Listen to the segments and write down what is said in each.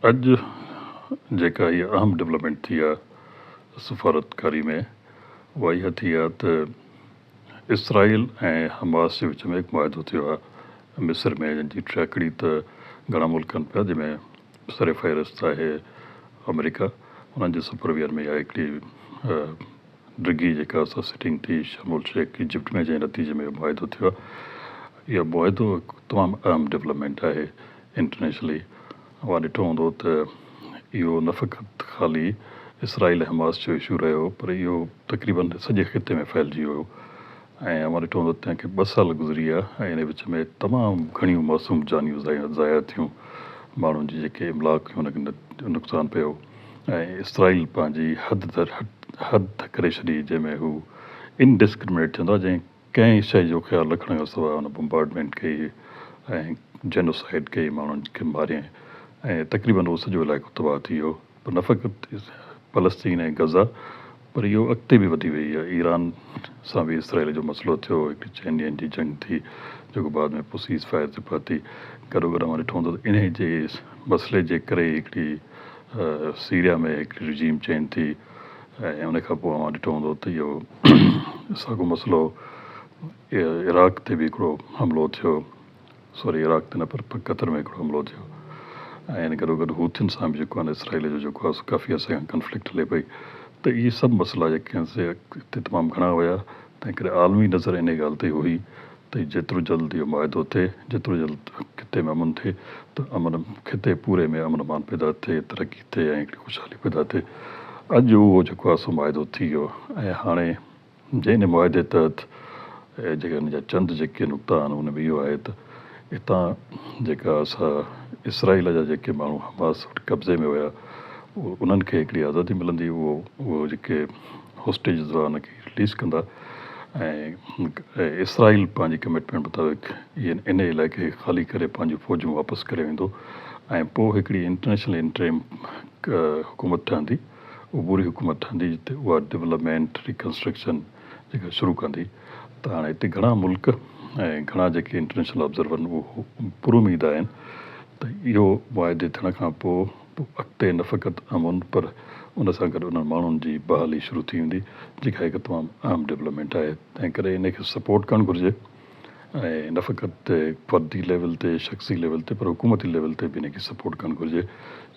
اڄ جيڪا هيء اهم ڊولپمينٽ ٿي آهي سفارتڪاري ۾ اها اها ٿي آهي ته اسرائيل ۽ حماس جي وچ ۾ هڪ معاهدو ٿيو آهي مصر ۾ جنهن جي ٽيڪڙي ته گهڻا ملڪ ڪن پيا جنهن ۾ سرفهرست آهي آمريڪا انهن جي سپرويئر ۾ اها هڪڙي ڊگهي جيڪا اسان سٽنگ ٿي شرم الشيخ ايجپٽ ۾ جنهن نتيجي ۾ اهو معاهدو ٿيو آهي اهو معاهدو تمام اهم ڊولپمينٽ آهي انٽرنيشنلي اوهان ڏٺو هوندو ته اهو نه فقط خالي اسرائيل حماس جو اشو رهيو پر اهو تقريبن سڄي خطي ۾ ڦهلجي ويو ۽ اوهان ڏٺو هوندو ته تنهن کي ٻه سال گذري ويا ۽ انهيء وچ ۾ تمام گهڻيون معصوم جانيون ضايع ٿيون، ماڻهن جي جيڪي املاڪ هيون ان کي نقصان پيو ۽ اسرائيل پنهنجي حد تر حد تھ ڪري ڇڏي جنهن ۾ هو Indiscriminate چوندو آهي جنهن ڪنهن شيء جو خيال رکڻ کان سواء هن بمبارڊمينٽ ڪئي ۽ جينوسائيڊ ڪئي ماڻهن کي ماريائين ۽ تقريبن اهو سڄو علائقو تباهه ٿي ويو نه فقط فلسطين ۽ غزه پر اهو اڳتي به وڌي ويئي ۽ ايران سان به اسرائيل جو مسئلو ٿيو، هڪڙي چئن ڏينهن جي جنگ ٿي، جيڪو بعد ۾ پوء سيز فائر تي پهتي. گڏوگڏ اوهان ڏٺو هوندو ته انهي جي مسئلي جي ڪري ئي هڪڙي سيريا ۾ هڪڙي رجيم چينج ٿي ۽ ان کان پوء اوهان ڏٺو هوندو ته اهو ساڳيو مسئلو عراق تي به هڪڙو حملو ٿيو. سوري عراق تي نه پر قطر ۾ هڪڙو حملو ٿيو ۽ ان گڏوگڏ هوٿين سان به جيڪو آهي نه اسرائيل جو جيڪو آهي سو ڪافي عرصي کان ڪنفلڪٽ هلي پئي ته اهي سڀ مسئلا جيڪي آهن سي اتي تمام گهڻا هيا تنهن ڪري عالمي نظر انهي ڳالهه تي هئي ته جيترو جلد اهو معاهدو ٿئي جيترو جلد خطي ۾ امن ٿئي ته امن خطي پوري ۾ امن امان پيدا ٿئي ترقي ٿئي ۽ هڪڙي خوشحالي پيدا ٿئي اڄ اهو جيڪو آهي سو معاهدو ٿي ويو ۽ هاڻي ان معاهدي تحت جيڪي ان جا چند جيڪي نقطا آهن ان ۾ اهو آهي ته اتان جيڪا اسا اسرائيل جا جيڪي ماڻهو حماس وٽ قبضي ۾ هيا انهن کي هڪڙي آزادي ملندي اهو اهو جيڪي هوسٽيجز هئا ان کي رليز ڪندا ۽ اسرائيل پنهنجي ڪمٽمينٽ مطابق ان علائقي کي خالي ڪري پنهنجون فوجون واپس ڪري ويندو ۽ پوء هڪڙي انٽرنيشنل انٽريم حڪومت ٺهندي. عبوري حڪومت ٺهندي ته اها ڊولپمينٽ ريڪنسٽرڪشن جيڪا شروع ڪندي ته هاڻي هتي گهڻا ملڪ ۽ گهڻا جيڪي انٽرنيشنل آبزرورن اهو پور اميد آهن ته اهو معاهدي ٿيڻ کان پو پو اڳتي نه فقط امن پر ان سان گڏ انهن ماڻهن جي بحالي شروع ٿي ويندي جيڪا هڪ تمام اهم ڊولپمينٽ آهي تنهن ڪري انهي کي سپورٽ ڪرڻ گهرجي. ۽ نه فقط فردي ليول تي شخصي ليول تي پر حڪومتي ليول تي به ان کي سپورٽ ڪرڻ گهرجي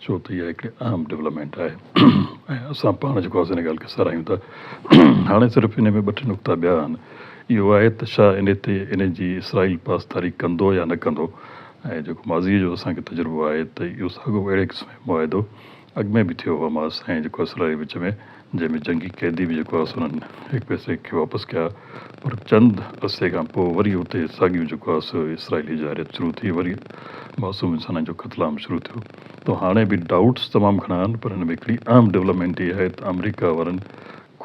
ڇو ته اها هڪڙي اهم ڊولپمينٽ آهي ۽ اسان پاڻ جيڪو آسي ان ڳالهه کي ساراهيون ٿا هاڻي صرف ان ۾ ٻه ٽي نقطا ٻيا آهن اهو آهي ته ڇا ان تي ان جي اسرائيل پاسداري ڪندو يا نه ڪندو ۽ جيڪو ماضي جو اسان کي تجربو آهي ته اهو ساڳيو اهڙي قسم جو معاهدو اڳ ۾ به ٿيو حماس ۽ جيڪو اسرائيل جي وچ ۾ جنهن ۾ جنگي قيدي به جيڪو آس انهن هڪ پيسي کي واپس ڪيا پر چند عرصي کان پوء وري اتي ساڳيون جيڪو آس اسرائيلي جارحيت شروع ٿي وري معصوم انسانن جو قتل عام شروع ٿيو تو هاڻي به ڊائوٽس تمام گهڻا آهن پر هن ۾ هڪڙي اهم ڊولپمينٽ هي آهي ته آمريڪا وارن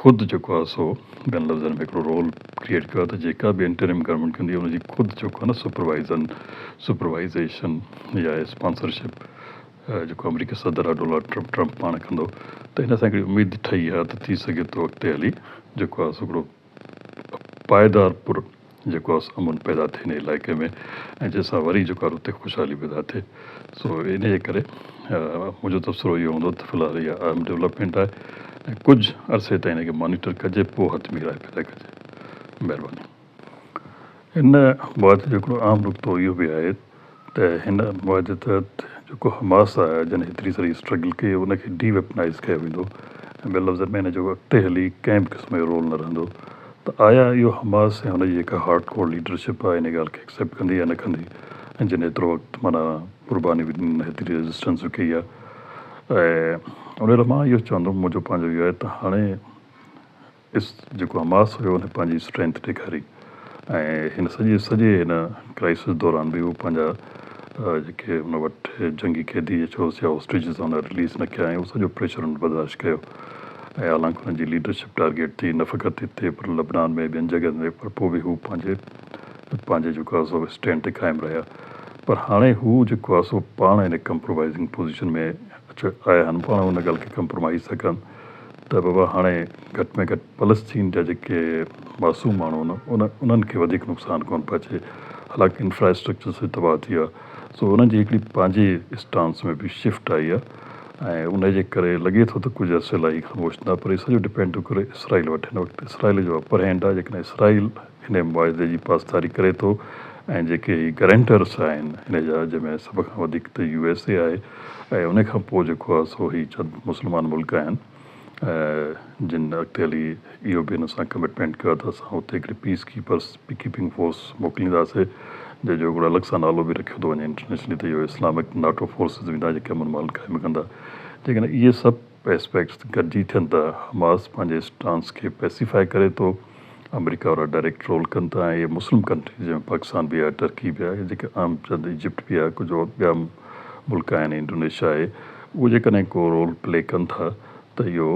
خود جيڪو آس سو ٻين لفظن ۾ هڪڙو رول ڪريئيٽ ڪيو آهي ته جيڪا به انٽريم گورنمينٽ ڪندي ان جي خود جيڪو آهي نه سپروائيزن سپروائيزيشن يا اسپانسرشپ جيڪو آمريڪي صدر ڊونلڊ ٽرمپ ٽرمپ پاڻ ڪندو ته ان سان هڪڙي اميد ٺهي آهي ته ٿي سگهي ٿو اڳتي هلي جيڪو آهي سو هڪڙو پائيدار پر جيڪو آهي سو امن پيدا ٿئي ان علائقي ۾ ۽ جنهن سان وري جيڪو آهي اتي خوشحالي پيدا ٿئي سو ان جي ڪري منهنجو تبصرو اهو هوندو ته في الحال اها اهم ڊولپمينٽ آهي ۽ ڪجهه عرصي تائين ان کي مانيٽر ڪجي پوء حتمي راء پيدا ڪجي مهرباني. ان معاهدي جو هڪڙو اهم نقطو اهو به آهي ته هن معاهدي تحت جيڪو حماس آهي جنهن هيتري ساري اسٽرگل ڪئي ان کي ڊي ويپنائيز ڪيو ويندو ۽ ٻين لفظن ۾ ان جو اڳتي هلي ڪنهن به قسم جو رول نه رهندو ته آيا اهو حماس ۽ ان جي جيڪا هارڊ ڪور ليڊرشپ آهي ان ڳالهه کي اڪسيپٽ ڪندي يا نه ڪندي ۽ جن هيترو وقت معنيٰ قرباني به ڏني هيتري ريزسٽنس به ڪئي آهي ۽ ان لاء مان اهو چوندم منهنجو پنهنجو اهو آهي ته هاڻي اس جيڪو حماس هيو ان پنهنجي اسٽرينٿ ڏيکاري ۽ هن سڄي سڄي هن ڪرائسس دوران به هو پنهنجا جيڪي هن وٽ جنگي قيدي يا چئوس يا هوسٽيجز هن رليز نه ڪيا ۽ هو سڄو پريشر هن برداشت ڪيو ۽ حالانڪ هن جي ليڊرشپ ٽارگيٽ ٿي نه فقط هتي پر لبنان ۾ ٻين جڳهن تي پر پوء به هو پنهنجي پنهنجي جيڪو آهي سو اسٽينڊ تي قائم رهيا پر هاڻي هو جيڪو آهي سو پاڻ هن ڪمپرومائزنگ پوزيشن ۾ اچي آيا آهن پاڻ هن ڳالهه کي ڪمپرومائز ٿا ڪن ته بابا هاڻي گهٽ ۾ گهٽ فلسطين جا جيڪي معصوم ماڻهو آهن انهن کي وڌيڪ نقصان ڪونه پهچي حالانڪه انفراسٽرڪچر سڄي تباهه ٿي آهي سو انهن جي هڪڙي پنهنجي اسٽانس ۾ به شفٽ آئي آهي ۽ انهي جي ڪري لڳي ٿو ته ڪجهه عرصي لاء هي خاموش ٿيندا پر هي سڄو ڊپينڊ ٿو ڪري اسرائيل وٽ هن وقت اسرائيل جو اپر هينڊ آهي جيڪڏهن اسرائيل انهيء معاهدي جي پاسداري ڪري ٿو ۽ جيڪي هي گرينٽرس آهن انهيء جا جنهن ۾ سڀ کان وڌيڪ ته يو ايس اي آهي ۽ انهيء کان پوء جيڪو آهي سو هي چند مسلمان ملڪ آهن جن اڳتي هلي اهو به ان سان ڪمٽمينٽ ڪيو آهي ته اسان اتي هڪڙي peacekeepers, peacekeeping force, موڪلينداسي جنهن جو هڪڙو الڳ سان نالو به رکيو ٿو وڃي انٽرنيشنلي ته اهو اسلامڪ ناٽو فورسز ويندا جيڪي امن مان قائم ڪندا جيڪڏهن اهي سڀ ايسپيڪٽس گڏجي ٿين ٿا، حماس پنهنجي اسٽانس کي پيسيفائي ڪري ٿو، آمريڪا وارا ڊائريڪٽ رول ڪن ٿا ۽ اهي مسلم ڪنٽريز جنهن ۾ پاڪستان به آهي، ٽرڪي به آهي جيڪي اهم چند ايجپٽ به آهي ڪجهه اور ٻيا ملڪ آهن ۽ انڊونيشيا آهي اهو جيڪڏهن ڪو رول پلي ڪن ٿا ته اهو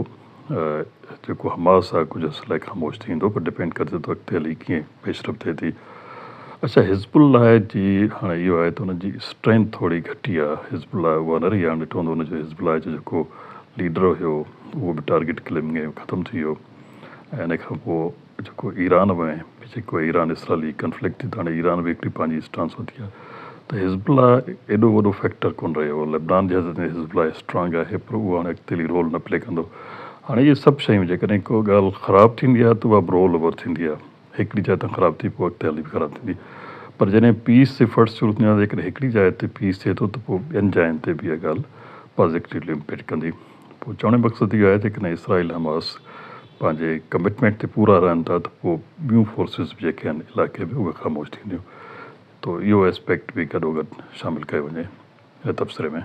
جيڪو حماس آهي ڪجهه عرصي لاء خاموش ٿي ويندو پر ڊپينڊ ڪري ٿو ته اڳتي هلي ڪيئن پيشرفت ٿئي ٿي. اڇا حزب الله جي هاڻي اهو آهي ته ان جي اسٽرينٿ ٿوري گهٽي آ حزب الله اهو نه رهي آ ڏٺو هوندو ان جو حزب الله جو جيڪو ليڊر هيو اهو به ٽارگيٽ ڪلنگ ۾ ختم ٿي ويو ۽ ان کان پو جيڪو ايران ۾ به جيڪو ايران اسرائلي ڪنفلڪٽ ٿي ته هاڻي ايران به هڪڙي پنهنجي اسٽانس وتي آ ته حزب الله ايڏو وڏو فيڪٽر ڪون رهيو لبنان جي حد تائين حزب الله اسٽرانگ آهي پر اهو هاڻي اڳتي هلي رول نه پلي ڪندو هاڻي اهي سڀ شيون جيڪڏهن ڪو ڳالهه خراب ٿيندي آ ته اها به رول اوور ٿيندي آ. هڪڙي جاء تان خراب ٿئي پوء اڳتي هلي به خراب ٿيندي پر جڏهن پيس جي فرض صورت ۾ جيڪڏهن هڪڙي جاء تي پيس ٿئي ٿو ته پوء ٻين جاين تي به اها ڳالهه پازيٽويلي امپيڪٽ ڪندي. پوء چوڻ جو مقصد اهو آهي ته جيڪڏهن اسرائيل حماس پنهنجي ڪمٽمينٽ تي پورا رهن ٿا ته پوء ٻيون فورسز به جيڪي آهن علائقي ۾ اهي خاموش ٿينديون ته اهو اسپيڪٽ به گڏوگڏ شامل ڪيو وڃي هن تبصري ۾.